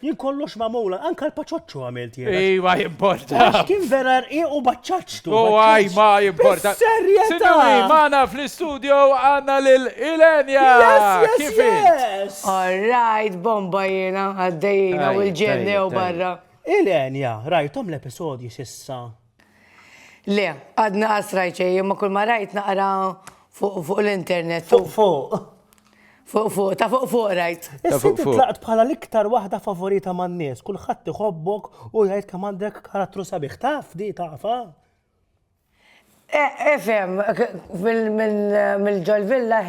Jien kollox magħmula, anka l-paċoċċu għamilt jien. Ej, ma jimporta. Għax kien vera rqiq u baċċaċtu. U għaj, ma jimporta. Serjeta! Sinjuri, maħna fl-istudio għanna l-Ilenja. Kif yes! All right, bomba jena, għaddejna u l-ġenni u barra. Ilenja, rajtom l-episodji sissa? Le, għadni qas rajt xejn, imma kull ma rajt naqra fuq l-internet. Fuq fuq. Fuq fuq, ta' fuq fuq rajt. Issa tlaqt bħala l-iktar waħda favorita man-nies, kulħadd iħobbok u jgħid kemm għandek karattru sabiħ. Taf di tafa? Efem, mill-ġol villa,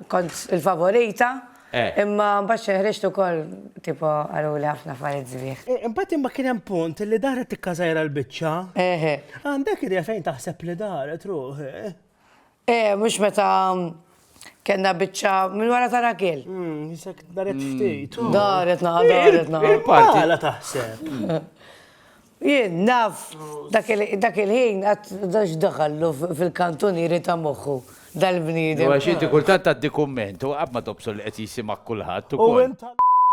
kont il-favorita. Imma mbagħad xi ħriġt ukoll tipo qaluli ħafna affarijiet sbieħ. Imbagħad imma kien hemm punt li daret tikkażajra l-biċċa. Eħe. Għandek idea fejn taħseb li daret ruħi? Eh, mhux meta kellna biċċa minn wara ta' Rakel. Jisek daret ftit. Daret naqa' daret naqa'. Għala taħseb. Jien naf dak il-ħin għad x'daħallu fil-kantunieri ta' moħħu dal-bniedem. Għax inti kultant tgħaddi kumment u qatt ma tobsor li qed jisimgħek kulħadd ukoll. U int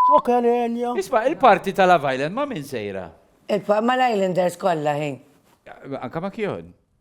xoker għenja. Isma' il-party ta' Love Island ma' min sejra? Mal-Islanders kollha hi. Anke ma' Kjon?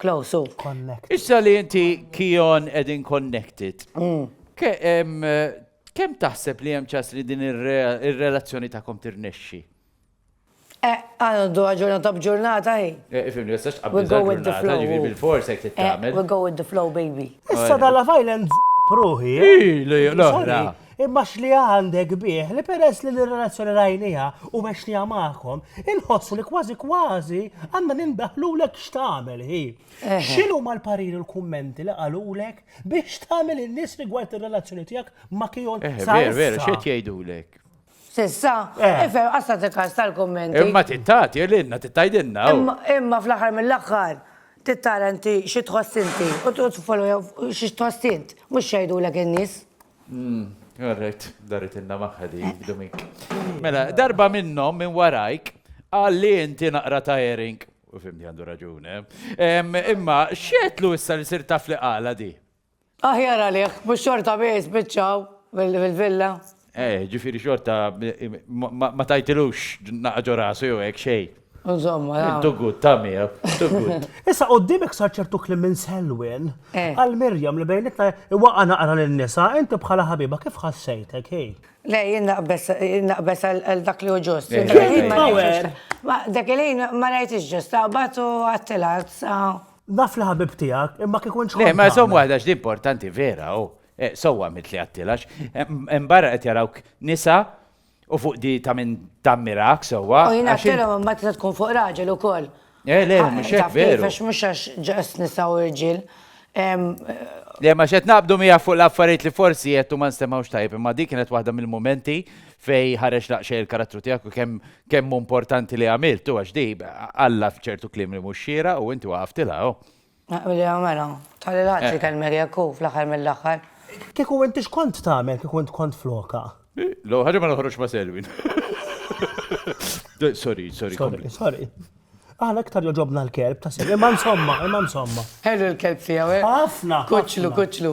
Close u. Connected. Issa li inti Kion qegħdin connected, kemm taħseb li hemm ċans li din ir-relazzjoni tagħkom tirnexxi? Għandu ġurnata b'ġurnata hi. Ifhimni, ma tistax tqabbel il-ġurnata, jiġifieri bilfors hekk trid tagħmel. We go with the flow baby. Issa dal-Love Island żopp ruħi. Hi, l-oħra. Imma x'li għandek bih li peress li l-relazzjoni rajnieha u għextieha magħkom, inħossu li kważi kważi għandna nindaħħlulek x'tagħmel hi. X'inhuma l-pariri u l-kummenti li qalulek bih x'tagħmel in-nies rigward ir-relazzjoni tiegħek ma' Kion sa issa? Veru, veru, x'qed jgħidulek? S'issa? Ifhem, qatt tagħti każ tal-kummenti. Imma trid tagħti lilna, trid tgħidilna hu. Imma fl-aħħar mill-aħħar trid tara inti xi tħoss inti u tfollow xi tħoss int, mhux x'jgħidulek in-nies. Hmm, all right, darit inna maħħa di, Domink. Mela, darba minnom minn warajk, għalli inti naqra ta' Ering, u fimni għandu raġune. Eh? Imma, xietlu issa li sir taf li għala di? Aħjar għalih, mux xorta biex bieċaw fil-villa. Eh, ġifiri xorta ma tajtilux naqġo rasu jew hekk xejn. Insomma, ja. Too good, ta' Mia, too good. Issa quddiemek sar ċertu kliem minn Selwyn għal Miriam li bejnietna iwaqqa' naqra lin-nisa, inti bħala ħabiba kif ħassejtek hi? Le, jien naqbeż, jien naqbeż għal dak li hu ġust. Dak il-ħin ma rajtix ġust, taqbad u għattilha. Naf li ħabib tiegħek, imma kieku int Le, ma żomm waħda x'di importanti vera, oh. Sewwa mitli għattilha, imbagħad qed jarawk nisa U fuq di ta' minn tammirak sewwa. U jina għattilhom imma tista' tkun fuq raġel ukoll. Eh, le, mhux hekk veru. Għax mhux għax ġas nisa u rġiel. Le, ma xed naqbdu mija fuq l-affarijiet li forsi jettu ma nstemawx tajb, imma di kienet waħda mill-mumenti fej ħareġ laqxej il-karattru tiegħek u kemm kemm importanti li għamiltu għax di għalla f'ċertu kliem li mhux xira u inti waqaftilha. Naqbilha mela. Ta' lil ħadd ikellmek jekk hu, fl-aħħar mill-aħħar. Kieku int x'kont tagħmel kieku int kont flokha? L-ewwel ħaġa ma noħroġx ma' Selwyn. Sorry, sorry, kompli. Sorry, sorry. Aħna iktar jogħġobna l-kelb ta' Selwyn, imma insomma, imma insomma. Ħelu l-kelb tiegħu, eh? Ħafna! Kuċċlu, kuċċlu.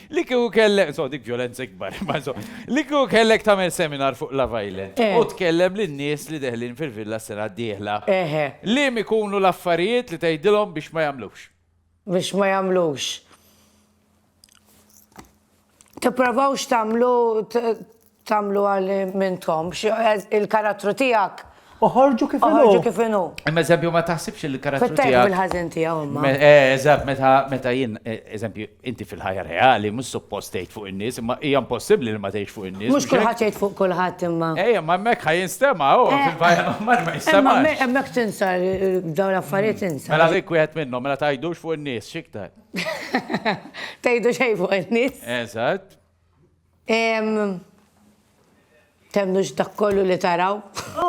Li kieku kellek, insomma dik vjolenza ikbar, imma insomma, li kieku kellek tagħmel seminar fuq Love Island Eh. u tkellem lin-nies li deħlin fil-villa s-sena d-dieħla, Eħe, liem ikunu l-affarijiet li tgħidilhom biex ma jagħmlux? biex ma jagħmlux. Tipprovawx tagħmlu, t- Tagħmluha li m'intom. Il-karattru tiegħek. Oħorġu kif inhu. Oħorġu kif inhu. Imma eżempju ma taħsibx li l-karattru tiegħek. Fit-tajjeb u l-ħażin tiegħu imma. Eżatt, meta jien, eżempju, inti fil-ħajja reali mhux suppost tgħid fuq in-nies, imma hija impossibbli li ma tgħidx fuq in-nies. Mhux kulħadd jgħid fuq kulħadd imma. Ejja, imma hemmhekk ħa jinstema' hu fil-ħajja normali ma jinstemax. Imma hemmhekk tinsa dawn l-affarijiet tinsa. Mela dik wieħed minnhom, mela tgħidux fuq in-nies x'iktar. Tgħidu xejn fuq in-nies. Eżatt. Temmnux dak kollu li taraw.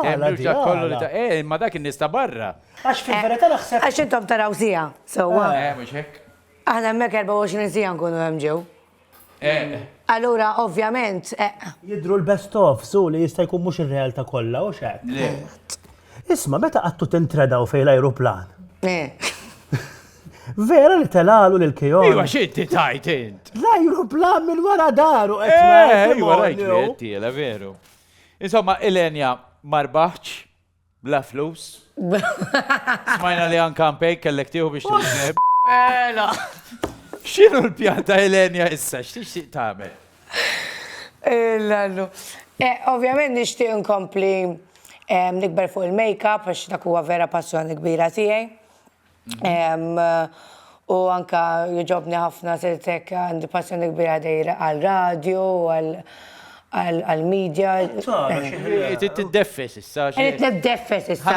Temmnux dak kollu li taraw. Eh, imma dak in-nies ta' barra. Għax fil-verità naħseb. Għax intom taraw siegħa, sewwa. Eh, mhux hekk. Aħna hemmhekk 24 siegħa nkunu hemm ġew. Eh. Allura, ovvjament. Jidhru l-best of, su, li jista' jkun mhux ir-realtà kollha, hux hekk? Le. Isma', meta qattu tintredaw fejn l-ajruplan? Eh. Vera li telalu lil Keon. Ejwa xi inti tajt int. L-ajruplan minn wara daru qed eh, Ejwa rajt li qed tiela veru. Insomma, Elenja marbaħċ bla flus. Smajna li anka mpej kellek tieħu biex tużeb. Mela. X'inhu l-pjan ta' Elenja issa x'tixtieq tagħmel? Illallu. Eh, eh, ovvjament nixtieq nkompli eh, nikber fuq il-makeup għax dak huwa vera passjoni kbira tiegħi. U anka jogħġobni ħafna sirt hekk għandi passjoni kbira dejr għar-radju u għall-media. Trid tiddeffes issa. Irrid niddeffes issa.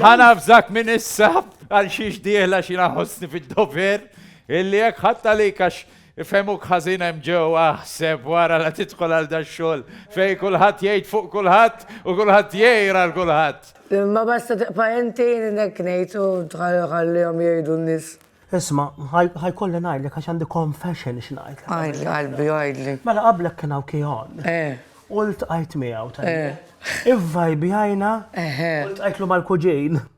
Ħa navżak minn issa għal xiex dieħla xi naħossni fid-dover illi jekk ħadt għalik għax Ifhemuk ħażin hemm ġewwa aħseb wara la tidħol għal dax-xogħol fejn kulħadd jgħid fuq kulħadd u kulħadd jgħir għal kulħadd. Imma basta tibqa' inti jien hekk ngħid u ħallihom jgħidu n-nies. Isma', ħajkolli ngħidlek għax għandi confession x'ngħidlek. Għidli qalbi, għidli. Mela qablek kien hawn Kion. Eh. U ltqajt miegħu tajjeb. Eh. Ivvajbjajna. Eħe. U ltqajtlu mal-kuġin.